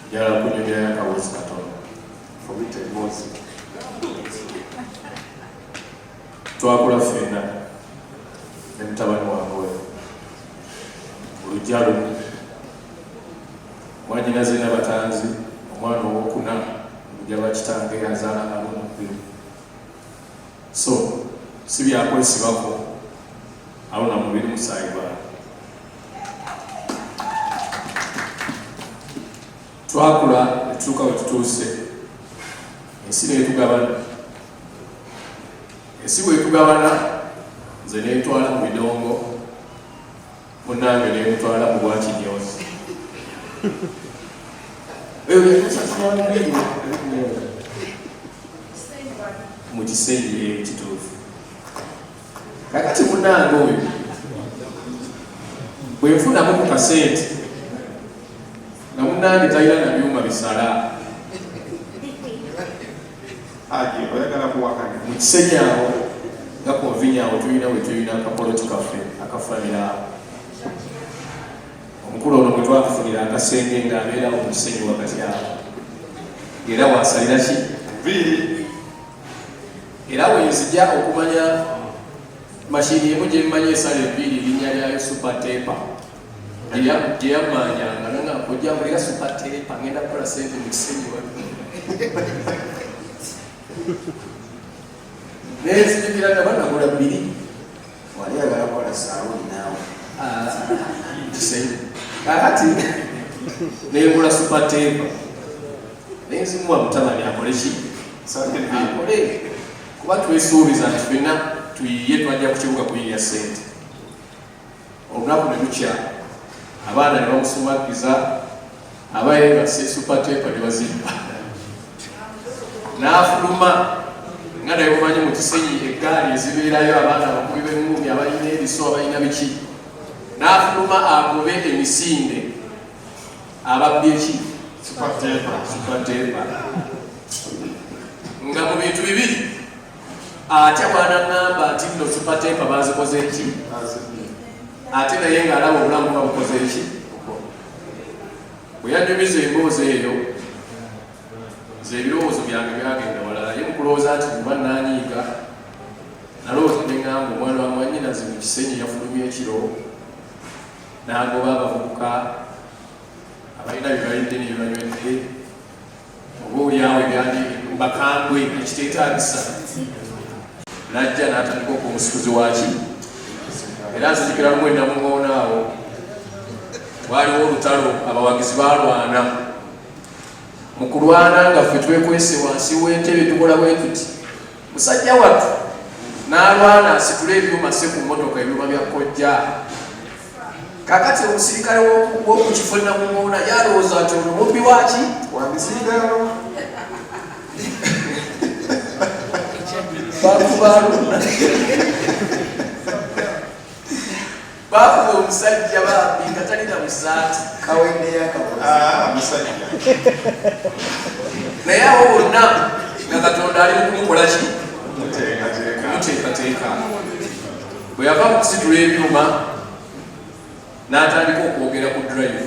njala kunyumya yakawezi katono fumita emboozi twakula fenna ne mutabani wange oyo olujja lumu mwanyinaze nabatanzi omwana owokuna olujja lwakitange azaala alunubbiru so si byakwesibako aluna mubiri musaayi gwange twakula netutuuka wetutuuse ensi netugabana ensi bwetugabana nze nentwala mu bidongo munange nemutwala mu bwakinyozi mu kiseera ekituufu kakati munange oyo bwenfunamu ku kasente nga munange talina na byuma bisala aje oyagala kuwakanya mukisenyawo nga konvinyawo tulina wetulina akapoloti kaffe akafanirawo omukulu ono mwetwakufunira akasenge nga abeerawo mukisenyi wakati awo era wasalira ki era wenzija okumanya mashini emu gyemmanyi esala ebiiri erinnya lyayo super tepa gyeyamanyanga nanga ojja kulira super tepa ngenda kukola sente mu kisenyi wa nenzijukira nga banagula biri wali oyagala kola sawuni naawe kakati nengula supateeva nenzimuwa mutabani akole ki akole kuba twesuubiza nti fenna tuyiye twajja ku kibuga kuyiya sente olunaku ne lukya abaana ne bamusumakiza aba yebase supateepa ne bazimba n'afuluma nga naye mumanyi mu kisenyi eggaali ezibeerayo abaana abakubi b'engumi abalina ebiso abalina biki n'afuluma agobe emisinde ababbi eki supateepa nga mu bintu bibiri ate bwanaŋamba nti no supateepa bazikoze eki ate naye ng'alaba obulamu nga bukoze eki bwe yanyumiza emboozi eyo nze ebirowoozo byange byagenda walala ye mukulowooza nti kuba nanyiiga nalowooza neŋamba omwana wa mwanyinazi mu kisenyi yafulumya ekiro n'agoba abavubuka abalina byebalidde nebibanywedde obaolyawo ebyali bakambwe ekiteetaagisa najja n'atandika okumusikuzi waki era nzijukira lumu ennamuŋoona awo waliwo olutalo abawagizi balwana mu kulwana nga ffe twekwese wansi w'entebe tukola bwe tuti musajja wattu n'alwana asitule ebyuma asse ku mmotoka ebyuma bya kojja kakati omusirikale w'okukifo namumoona yalowooza nti ono mubbi waki wamisirikalo bakubaluna Bakuba omusajja bambi nga talina musaati kawendeyamusajja naye awo bonna nga katonda ali mukumukola ki kumuteekateeka bwe yava mu kusitula ebyuma n'atandika okwogera ku drive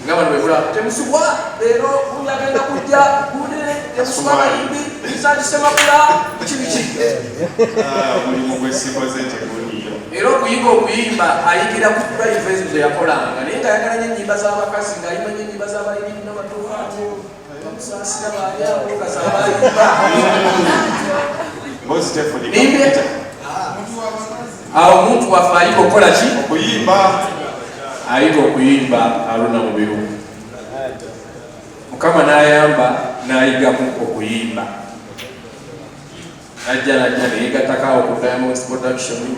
nga bano bebula temusubwa leero gundi agenda kujja gundi temusubwa bayimbi bisakisemakula biki biki mulimu gwesikoze teguliyo era okuyiga okuyimba ayigira ku drive ezo zeyakolanga naye nga ayagala nyo enyimba z'abakazi nga ayimba nyo enyimba z'abayimbi nabatuuka awo omuntu waffe ayita okukola ki okuyimba ayita okuyimba aluna mubiru mukama nayamba nayigamu okuyimba najja najja neyegatako awo ku diamonds production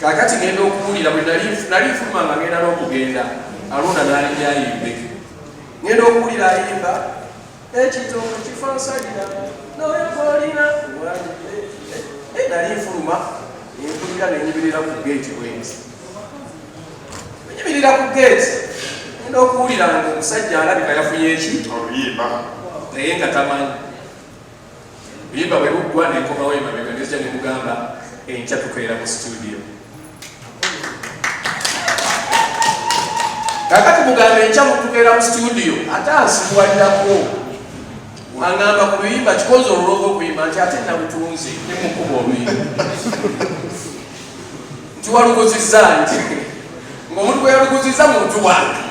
kakati ngenda okuwulira bwe nali nfuluma nga ngenda n'okugenda alonda n'alibyayimbe ngenda okuwulira ayimba ekitomu kifansalira noyo gwolina eh, nali nfuluma enkulira nenyimirira ku geeti bwenzi enyimirira ku geeti ngenda okuwulira nga omusajja alabika yafunye eki oluyimba naye nga tamanyi Buyimba bwe buggwa ne nkomawo emabega ne zija ne mugamba enkya tukeera mu situdiyo. Kakati mugamba enkya mutukeera mu situdiyo ate ansibuwalirako angamba ku luyimba kikozi olulooga okuyimba nti ate nabutunzi ne mukuba oluyimba nti waluguzizza nti ng'omuntu gwe yaluguzizza muntu wange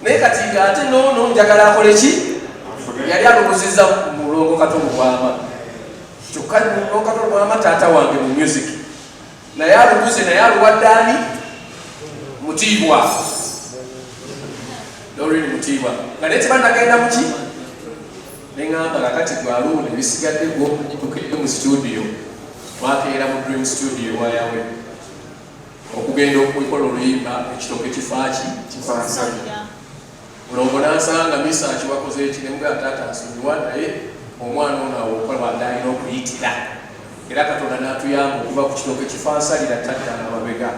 naye kati nga ate noono njagala akole ki yali alowozeza mulongo kato mubwama kyokka mulongo kato mubwama taata wange mu music naye aluguze naye aluwaddaani mutiibwa dorin mutiibwa nga naye tebanagenda muki neŋamba kakati gwaluuno ebisigadde gwo tukede mu studio twakeera mu dream studio wayawe okugenda okukola oluyimba ekitooke kifaaki kifaasanya mulongo nansanga misa akiwakoze ekiremga taata nsonyiwa naye omwana ono awokola adalina okuyitira era katonda natuyamba okuva ku kitooke kifansalira taddala mabega